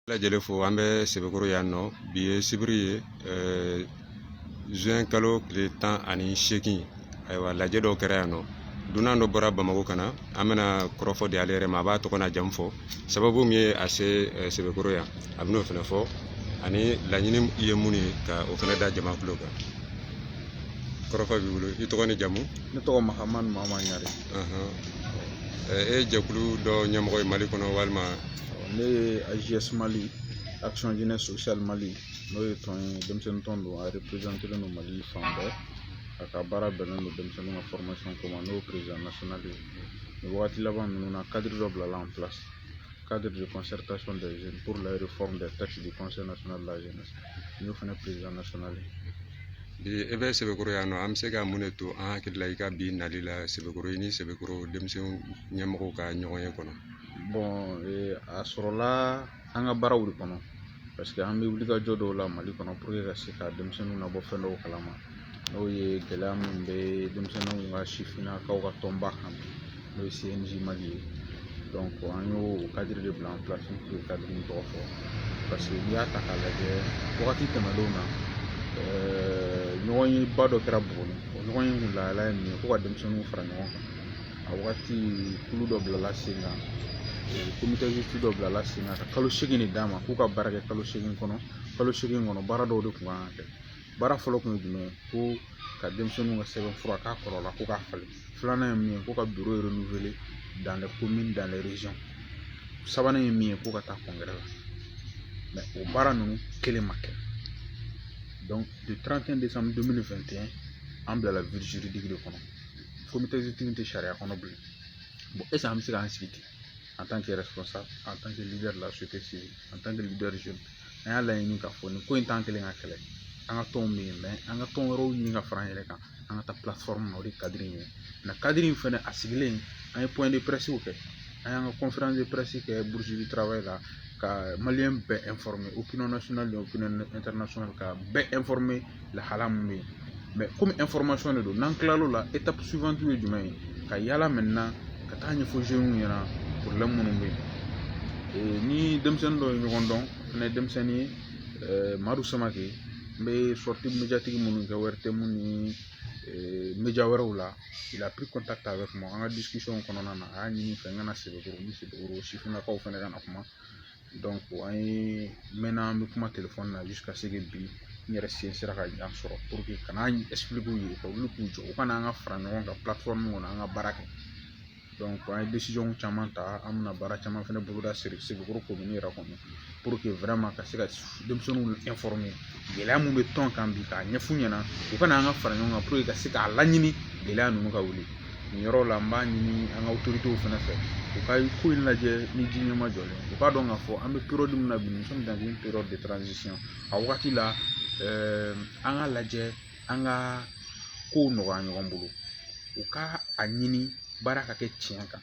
lajɛlen fo an bɛ sebekɔrɔ yan nɔ bi ye sibiri ye zuwɛn kalo tile tan ani seegin ayiwa lajɛ dɔw kɛra yan nɔ dunan dɔ bɔra bamakɔ ka na an bɛna kɔrɔfɔ di ale yɛrɛ ma a b'a tɔgɔ n'a jamu fɔ sababu min ye a se sebekɔrɔ yan a bɛn'o fana fɔ ani laɲini ye mun ye ka o fana da jama kulo kan kɔrɔfɔ b'i bolo i tɔgɔ ni jamu ne tɔgɔ mahamani mama ɲare e ye jɛkulu dɔ ɲɛmɔgɔ ye mali kɔnɔ walima ne ye ajs mali action jeunesse sociale mali n'o ye tɔn ye denmisɛnnin tɔn don a représentelen don mali fan bɛɛ a ka baara bɛnnen don denmisɛnninw ka formation ko ma n y'o président national ye nin wagati laban ninnu na cadre dɔ bilala en place cadre de concertation des jeunes pour la réforme des textes du conseil national de la jeunesse n y'o fana président national ye bi e bɛ sebekɔrɔ yan nɔ an bɛ se ka mun de to an hakili la i ka bi nali la sebekɔrɔ i ni sebekɔrɔ denmisɛnw ɲɛmɔgɔw ka ɲɔgɔn ye kɔnɔ bon a sɔrɔla an ka baaraw de kɔnɔ parce que an bɛ wulikajɔ dɔw la mali kɔnɔ pour que ka se ka denmisɛnninw labɔ fɛn dɔw kalama n'o ye gɛlɛya minnu bɛ denmisɛnninw ka sifinnakaw ka tɔnba kan n'o ye cnj mali ye donc an y'o cadre de bila en place pour que cadre in tɔgɔ fɔ parce que n'i y'a ta k'a lajɛ wagati tɛmɛnenw na ɲɔgɔn ye ba dɔ kɛra buguni o ɲɔgɔn ye kun lahala ye min ye ko ka denmisɛnninw fara ɲɔgɔn kan a wagati kulu dɔ bilala sen kan comité exécutif dɔ bilala sen kan ka kalo segin de d'a ma k'u ka baara kɛ kalo segin kɔnɔ kalo segin kɔnɔ baara dɔw de kun kan ka kɛ baara fɔlɔ kun ye jumɛn ye ko ka denmisɛnninw ka sɛbɛn fura k'a kɔrɔ la ko k'a falen filanan ye min ye ko ka bureau renouveler dans les communes dans les régions sabanan ye min ye ko ka taa congrès la mais o baara ninnu kelen ma kɛ donc le 31 décembre 2021 an bilala vide juridique de kɔnɔ comité exécutif tɛ sariya kɔnɔ bilen bon est-ce que an bɛ se k'an sigi ten an tan kɛrɛ fɔ sa an tan kɛ lidɛri la su tɛ se an tan kɛ lidɛri su an y'a laɲini k'a fɔ nin ko in t'an kelen ka kɛlɛ an ka tɔnw bɛ yen mɛ an ka tɔn wɛrɛw ɲini ka fara an yɛrɛ kan an ka taa na o de kadiri in ye nka kadiri in fɛnɛ a sigilen an ye pɔɲɛ de pɛrɛsiw kɛ an y'an ka kɔnferansi de pɛrɛsi kɛ burusili tarawele la ka maliyɛn bɛɛ o pinɛ ka bɛɛ lahala min bɛ yen mais comme information de don n'an tilal'o la étape suivante ye jumɛn ye ka yaala maintenant ka taa ɲɛfɔ jeunes ɲɛna problème minnu bɛ yen ni denmisɛnnin dɔ ye ɲɔgɔn dɔn fana ye denmisɛnnin ye madu samake n bɛ sortie médiatique minnu kɛ ortm ni média wɛrɛw la il a pris contact avec moi an ka discussion kɔnɔna na a y'a ɲini n fɛ n ka na sebekɔrɔ ni sebekɔrɔ sifinnakaw fana ka na kuma an ye mɛnna an bɛ kuma telefɔni na ka se bi n yɛrɛ sen sera ka ɲɛ sɔrɔ ka n'a ye ka wuli k'u jɔ u kana an ka fara ɲɔgɔn kan kɔnɔ an ka baara kɛ an ye caman ta an bɛna baara caman fɛnɛ boloda siri segu ko min yɛrɛ kɔnɔ ka se ka denmisɛnninw ɛnfɔrɔme gɛlɛya min bɛ tɔn kan bi k'a ɲɛf'u ɲɛna u ka na an ka fara ɲɔgɔn kan puruke ka se k'a laɲini gɛlɛya ninnu ka wuli nin yɔrɔ la n b'a ɲini an ka otoritew fana fɛ u ka ko in lajɛ ni ji ɲɛma jɔlen u k'a dɔn k'a fɔ an bɛ periyɔdi min na bi nous sommes dans une période de transition a wagati la ɛɛ an ka lajɛ an ka kow nɔgɔya ɲɔgɔn bolo u ka a ɲini baara ka kɛ tiɲɛ kan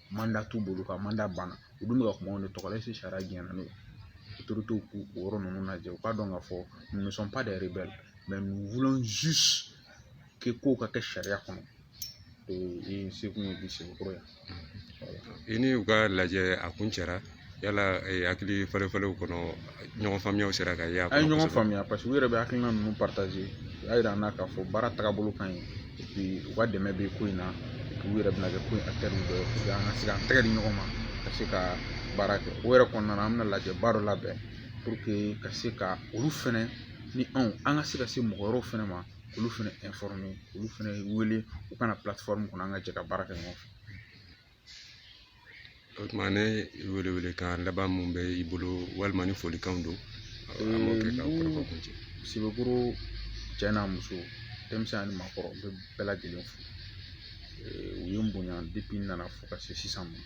manda t'u bolo ka manda banna u dun bɛ ka kuma u tɔgɔ la sariya jumɛn na n'o ye u tora k'u o yɔrɔ ninnu lajɛ u k'a dɔn k'a fɔ kɛ ko ka kɛ sariya kɔnɔ ee se kun ye bi segu kɔrɔ yan i ni u ka lajɛ a kun cɛra yala hakili falen falenw kɔnɔ ɲɔgɔn faamuyaw sera ka ye an ye ɲɔgɔn faamuya paseke u yɛrɛ bɛ hakilina ninnu partager u y'a yira an na k'a fɔ baara tagabolo ka ɲi et puis u ka dɛmɛ bɛ ko in na et puis u yɛrɛ bɛna kɛ ko in acteur dɔ ye pour que an ka se ka an tɛgɛ di ɲɔgɔn ma ka se ka baara kɛ o yɛrɛ kɔnɔna na an bɛna lajɛba dɔ labɛn pour que ka se ka olu fɛnɛ ni anw an ka se ka se mɔgɔ wɛrɛw fɛnɛ ma olu fɛnɛ informer olu fɛnɛ wele u ka na plateforme kɔnɔ an ka jɛ ka baara kɛ ɲɔgɔn fɛ o tuma ne welewelekan laban mun bɛ i bolo walima ni folikanw don an b'o kɛ ka kɔrɔfɔ kuncɛ sebekɔrɔ cɛ n'a muso denmisɛn ani maakɔrɔ n bɛ bɛɛ lajɛlen fo u ye n bonya depuis n nana fo ka se sisan ma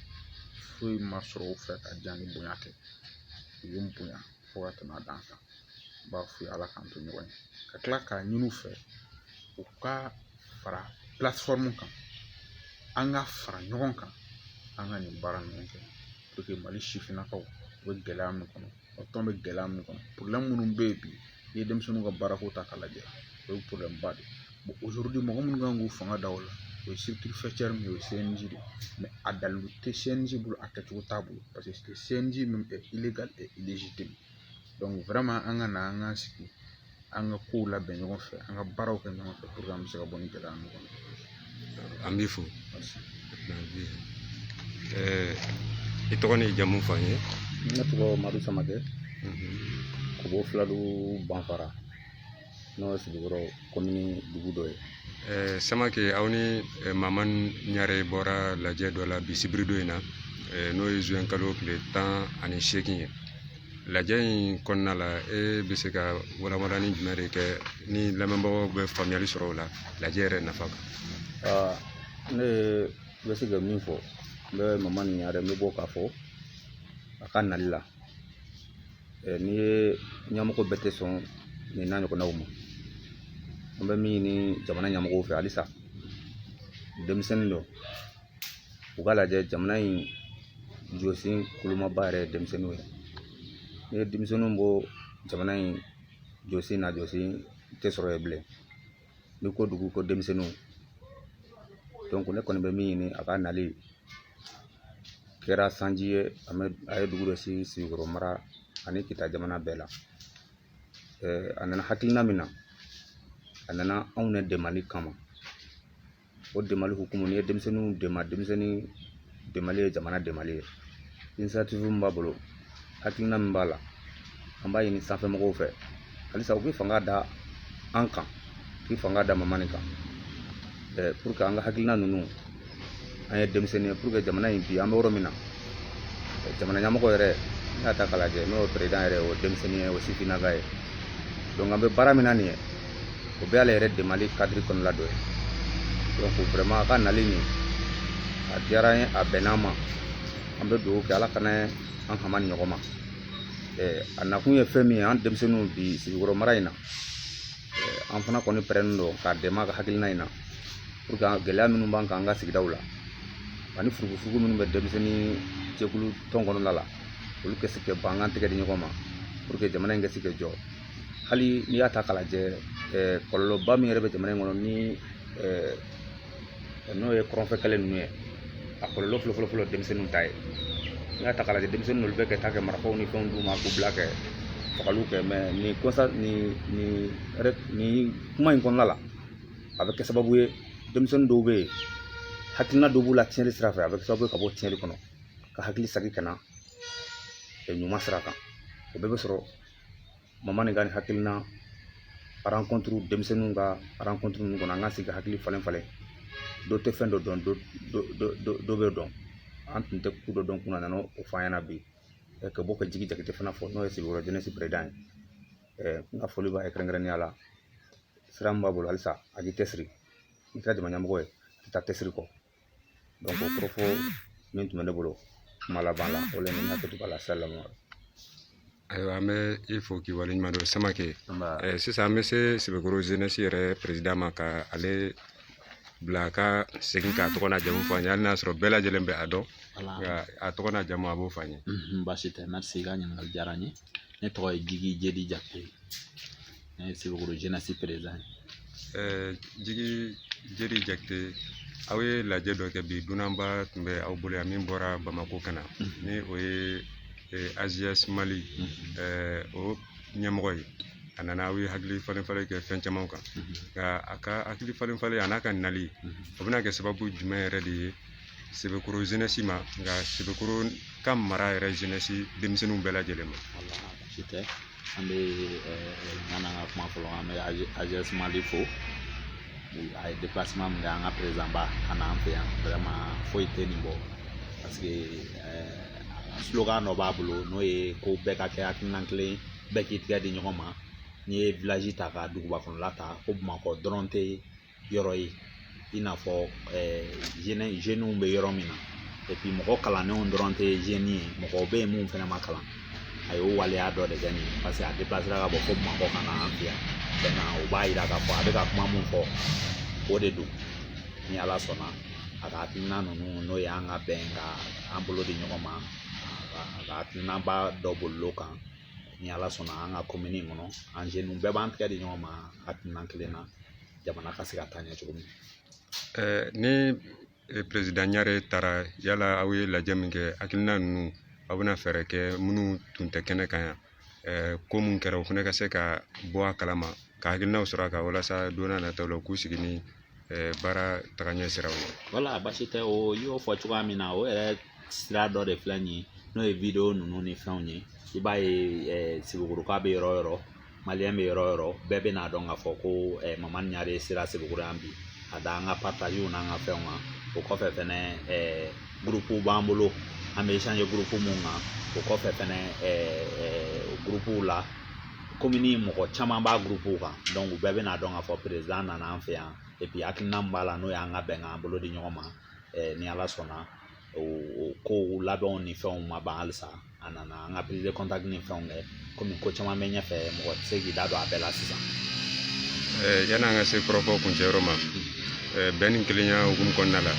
foyi ma sɔrɔ u fɛ ka diya ni bonya tɛ u ye n bonya fo ka tɛmɛ a dan kan n b'a f'u ye ala k'an to ɲɔgɔn ye ka tila k'a ɲini u fɛ u ka fara plateforme kan an ka fara ɲɔgɔn kan an ka nin baara ninnu kɛ pour que mali sifinnakaw bɛ gɛlɛya min kɔnɔ o tɔn bɛ gɛlɛya min kɔnɔ problème minnu bɛ yen bi n'i ye denmisɛnninw ka baarako ta k'a lajɛ o ye problème ba de ye aujourd'hui mɔgɔ minnu kan k'u fanga da o la o ye structure faîtière min ye o ye CNJ de ye mais a dalilu tɛ CNJ bolo a kɛcogo t'a bolo paseke CNJ même est an ka na an ka sigi an ka kow labɛn ɲɔgɔn fɛ an ka baaraw kɛ ɲɔgɔn fɛ pour que an bɛ se ka bɔ nin gɛlɛya ninnu kɔnɔ an b'i fo i tɔgɔ ni jamu fɔ an ye ne tɔgɔ madu samakɛ ka bɔ filadu banfara n'o ye sebekɔrɔ kɔmini dugu dɔ ye samakɛ aw ni mamani ɲare bɔra lajɛ dɔ la bi sibiridon in na n'o ye zuwɛn kalo tile tan ani seegin ye lajɛ in kɔnɔna la e bɛ se ka walawalanni jumɛn de kɛ ni lamɛnbagaw bɛ faamuyali sɔrɔ o la lajɛ yɛrɛ nafa kan ne bɛ se ka min fɔ n bɛ mamani ɲare n bɛ bɔ k'a fo a ka nali la n'i ye ɲɛmɔgɔ bɛɛ tɛ sɔn nin n'a ɲɔgɔnnaw ma an bɛ min ɲini jamana ɲɛmɔgɔw fɛ halisa denmisɛnnin dɔ u k'a lajɛ jamana in jɔsen kolomaba yɛrɛ ye denmisɛnninw ye n'i ye denmisɛnninw bɔ jamana in jɔsen na jɔsen tɛ sɔrɔ yen bilen n'i ko dugu ko denmisɛnninw donc ne kɔni bɛ min ɲini a ka nali kɛra sanji ye a ye dugu dɔ si sebekɔrɔ mara ani kita jamana bɛɛ la a nana hakilina min na a nana anw ne dɛmɛli kama o dɛmɛli hukumu n'i ye denmisɛnninw dɛmɛ denmisɛnnin dɛmɛli ye jamana dɛmɛli ye initiative min b'a bolo hakilina min b'a la an b'a ɲini sanfɛ mɔgɔw fɛ halisa u k'i fanga da an kan u k'i fanga da mamani kan ɛɛ pour que an ka hakilina ninnu an ye denmisɛnnin ye pour que jamana in bi an bɛ yɔrɔ min na jamana ɲɛmɔgɔ yɛrɛ n'i y'a ta k'a lajɛ n'o ye président yɛrɛ o denmisɛnnin ye o sifinnaga ye donc an bɛ baara min na nin ye o bɛ ale yɛrɛ dɛmɛli cadre kɔnɔna dɔ ye donc vraiment a ka nali nin a diyara an ye a bɛnn'an ma an bɛ dugawu kɛ ala kana an hama ni ɲɔgɔn ma a nakun ye fɛn min ye an denmisɛnninw bi sebekɔrɔ mara in na an fana kɔni pɛrɛnnen don k'a dɛmɛ a ka hakilina in na pour que gɛlɛya minnu b'an kan an ka sigidaw la ani furugufurugu minnu bɛ denmisɛnnin jɛkulu tɔn kɔnɔna la olu ka se ka ban an ka tɛgɛ di ɲɔgɔn ma pour que jamana in ka se ka jɔ hali n'i y'a ta k'a lajɛ kɔlɔlɔba min yɛrɛ bɛ jamana in kɔnɔ ni n'o ye kɔrɔnfɛ kɛlɛ ninnu ye a kɔlɔlɔ fɔlɔ fɔlɔ fɔlɔ denmisɛnninw ta ye n'i y'a ta k'a lajɛ denmisɛnnin olu bɛ ka taa ka marifaw ni fɛnw d'u ma k'u bila ka fagali kɛ mais nin kɔsa nin nin nin kuma in kɔnɔna la a bɛ kɛ sababu ye denmisɛnnin dɔw bɛ yen hakilina dɔw b'u la tiɲɛni sira fɛ a bɛ kɛ sababu ye ka bɔ tiɲɛni kɔnɔ ka hakili sagi ka na ɲuman sira kan o bɛɛ bɛ sɔrɔ mamani ka nin hakilina rencontre denmisɛnninw ka rencontre ninnu kɔnɔ an ka sigi ka hakili falen falen dɔ tɛ fɛn dɔ dɔn dɔ b'a dɔn an tun tɛ ko dɔ dɔn kunun a nana o f'an ɲɛna bi ka bɔ ka jigi jakite fana fo n'o ye sebekɔrɔ jeunesse président ye n ka foli b'a ye kɛrɛnkɛrɛnnenya la sira min b'a bolo halisa a k'i cɛsiri n'i kɛra jamana ɲɛmɔgɔ ye a tɛ taa cɛsiri kɔ o kɔrɔfɔ min tun bɛ ne bolo kuma laban la o la ne hakili b'a la salamu ayiwa an bɛ i fo k'i waleɲuman dɔn samakɛ sisan an bɛ se sebekɔrɔ jeunesse yɛrɛ président ma ka ale bila ka segin k'a tɔgɔ n'a jamu fɔ an ye hali n'a sɔrɔ bɛɛ lajɛlen bɛ a dɔn nka a tɔgɔ n'a jamu a b'o fɔ an ye baasi tɛ merci i ka ɲininkali diyara n ye ne tɔgɔ ye jigi jedi jakite ne ye sebekɔrɔ zenɛsi perezan ye jigi jedi jakite aw ye lajɛ dɔ kɛ bi dunanba tun bɛ aw bolo yan min bɔra bamako ka na ni o ye ajs mali o ɲɛmɔgɔ ye a nana aw ye hakili falen falen kɛ fɛn caman kan nka a ka hakili falen falen a n'a ka nali o bɛna kɛ sababu jumɛn yɛrɛ de ye Sebekɔrɔ zenɛsi ma nka sebekɔrɔ ka mara yɛrɛ zenɛsi denmisɛnninw bɛɛ lajɛlen ma baasi tɛ an bɛ an ka kuma fɔlɔ an bɛ ajs mali fo a ye deplasiman min kɛ an ka perezanba ka na an fɛ yan vɛrɛman foyi tɛ nin bɔ paseke slogan dɔ b'a bolo n'o ye ko bɛɛ ka kɛ hakilina kelen bɛɛ k'i tigɛ di ɲɔgɔn ma n'i ye vilaji ta ka duguba kɔnɔla ta ko bamakɔ dɔrɔn tɛ yɔrɔ ye i n'a fɔ zeniw bɛ yɔrɔ min na epi mɔgɔ kalannenw dɔrɔn tɛ zeni ye mɔgɔw bɛ yen minnu fana ma kalan a y'o waleya dɔ de kɛ nin ye paseke a deplasera ka bɔ fo bamakɔ ka na an fɛ yan o b'a yira k'a fɔ a bɛ ka kuma mun fɔ o de don ni ala sɔnna a ka hakilina ninnu n'o ye an ka bɛn ka an bolo di ɲɔgɔn ma a ka hakilinaba dɔ bolilo kan ni ala sɔnna an ka komini kɔnɔ an zeni bɛɛ b'an tɛgɛ di ɲɔgɔn ma hakilina kelen na jamana ka se ka taa ɲɛ cogo min ni perezidan ɲare taara yala aw ye lajɛ min kɛ hakilina ninnu aw bɛna fɛɛrɛ kɛ minnu tun tɛ kɛnɛ kan yan ko min kɛra o fana ka se ka bɔ a kalama ka hakilinaw sɔrɔ a kan walasa don n'a nataw la u k'u sigi ni baara tagaɲɛ siraw ye wala basi tɛ o y'o fɔ cogoya min na o yɛrɛ sira dɔ de filɛ nin ye n'o ye wideyo ninnu ni fɛnw ye i b'a ye sebekɔrɔka bɛ yɔrɔ o yɔrɔ bɛ yɔrɔ o yɔrɔ bɛɛ bɛn'a dɔn k'a fɔ ko mamani ɲare sera sebekɔrɔ yan bi ka da an ka paritazew n'an ka fɛnw kan o kɔfɛ fɛnɛ gurupuw b'an bolo an bɛ esanze gurupu mun kan o kɔfɛ fɛnɛ gurupuw la komini mɔgɔ caman b'a gurupuw kan dɔnku u bɛɛ bɛn'a dɔn k'a fɔ perezan nana an fɛ yan epi hakilina min b'a la n'o y'an ka bɛn k'an bolo di ɲɔgɔn ma ni ala sɔnna o kow labɛnw ni fɛnw ma ban halisa a nana an ka prise de contact ni fɛnw kɛ kɔmi ko caman bɛ ɲɛfɛ mɔgɔ tɛ se k'i da don a bɛɛ la sisan yanni an ka se kɔrɔfɔ kuncɛyɔrɔ ma bɛn ni kelenya hukumu kɔnɔna la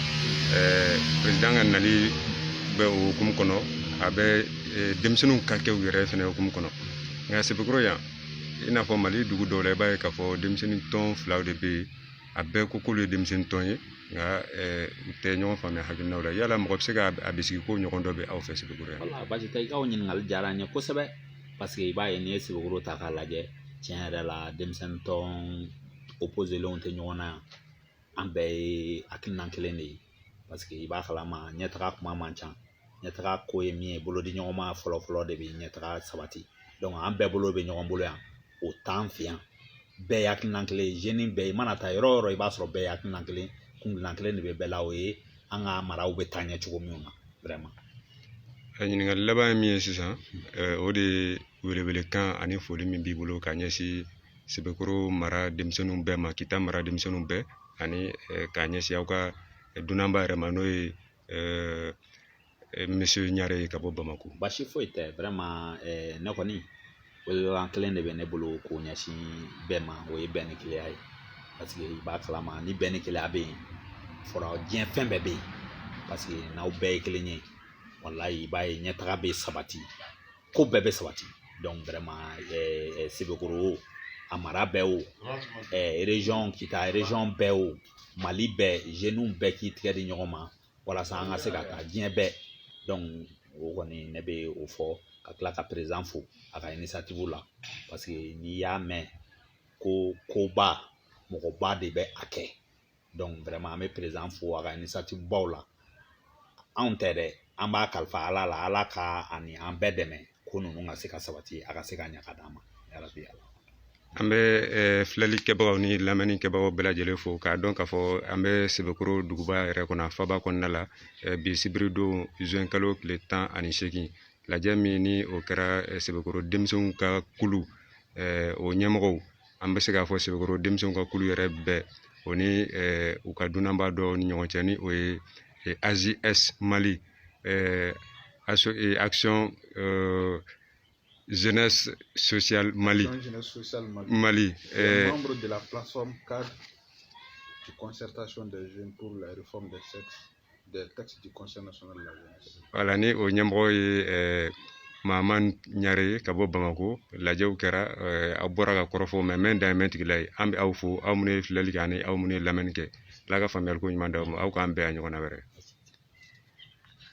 perezidan ka nali bɛ o hukumu kɔnɔ a bɛ denmisɛnninw ka kɛ u yɛrɛ fɛnɛ hukumu kɔnɔ nka sebekɔrɔ yan i n'a fɔ mali dugu dɔw la i b'a ye k'a fɔ denmisɛnnin tɔn filaw de bɛ yen a bɛɛ ko k'olu ye denmisɛnnin tɔn ye nka eh, u tɛ ɲɔgɔn faamuya hakilinaw la yala mɔgɔ bɛ se ka a bisigi k'o ɲɔgɔn dɔ bɛ aw fɛ sebekɔrɔ yan wala baasi tɛ i ka o ɲininkali diyara n ye kosɛbɛ paseke i b'a ye n'i ye sebekɔrɔ ta k'a lajɛ tiɲɛ yɛrɛ la denmisɛnnin tɔn opozelenw tɛ ɲɔgɔn na yan an bɛɛ ye hakilina kelen de ye parce que i b'a kalama ɲɛtaga kuma man ca ɲɛtaga ko ye min ye bolo di ɲɔgɔn ma fɔlɔ fɔlɔ de bɛ ɲɛtaga sabati donc an bɛɛ bolo bɛ ɲɔgɔn bolo yan o t'an fɛ yan bɛɛ ye hakilina kelen ye jeune bɛɛ i mana taa yɔrɔ o yɔrɔ i b'a sɔrɔ bɛɛ ye hakilina kelen kuntilenna kelen de bɛ bɛɛ la o ye an ka maraw bɛ taa ɲɛ cogo min na vraiment ɲininkali laban ye min ye sisan o de ye welewelekan ani foli min b'i bolo k'a ɲɛsin sebekoro mara denmisɛnninw bɛɛ ma kita mara denmisɛnninw bɛɛ ani k'a ɲɛsin aw ka dunanba yɛrɛ ma n'o ye monsieur ɲare ye ka bɔ bamako basi foyi tɛ vraiment ne kɔni welewelekan kelen de bɛ ne bolo k'o ɲɛsin bɛɛ ma o ye bɛn ni kelenya ye parce que i b'a kalama ni bɛn ni kelenya bɛ yen fɔra diɲɛ fɛn bɛɛ bɛ yen parce que n'aw bɛɛ ye kelen ye walayi i b'a ye ɲɛtaga bɛ sabati ko bɛɛ bɛ sabati donc vraiment sebekoro o a mara bɛɛ o région kita région bɛɛ o mali bɛɛ jeunes bɛɛ k'i tigɛ di ɲɔgɔn ma walasa an ka se ka taa diɲɛ bɛɛ donc o kɔni ne bɛ o fɔ ka tila ka président fo a ka initiative la parce que n'i y'a mɛn ko koba mɔgɔba de bɛ a kɛ an bɛ président fo a ka initiative baw la anw tɛ dɛ an b'a kalifa ala la ala k'a ni an bɛɛ dɛmɛ ko ninnu ka se ka sabati a ka se ka ɲa ka d'an ma an bɛ eh, filɛli kɛbagaw ni lamɛnni kɛbagaw bɛɛ lajɛlen fo k'a dɔn k'a fɔ an bɛ sebekoro duguba yɛrɛ kɔnɔ faba kɔnɔna la eh, bi sibiridon zuwɛn kalo tile tan ani seegin lajɛ min ni o kɛra eh, sebekoro denmisɛnw ka kulu o ɲɛmɔgɔw an bɛ se k'a fɔ sebekoro denmisɛnw ka kulu yɛrɛ bɛɛ o ni u ka dunanba dɔ ni ɲɔgɔn cɛ ni o ye ajs mali action jeunesse sociale mali mali membre de la plateforme cadre de concertation des jeunes pour la réforme des textes voilà ni o ɲɛmɔgɔ ye eh, mamani ɲare ye ka bɔ bamako lajɛw kɛra eh, aw bɔra ka kɔrɔfɔ mɛn mɛn dan ye mɛn tigila ye an bɛ aw fo aw minnu ye filɛli kɛ ani aw minnu ye lamɛnni kɛ ala ka faamuyali ko ɲuman d'aw ma aw k'an bɛn a ɲɔgɔnna wɛrɛ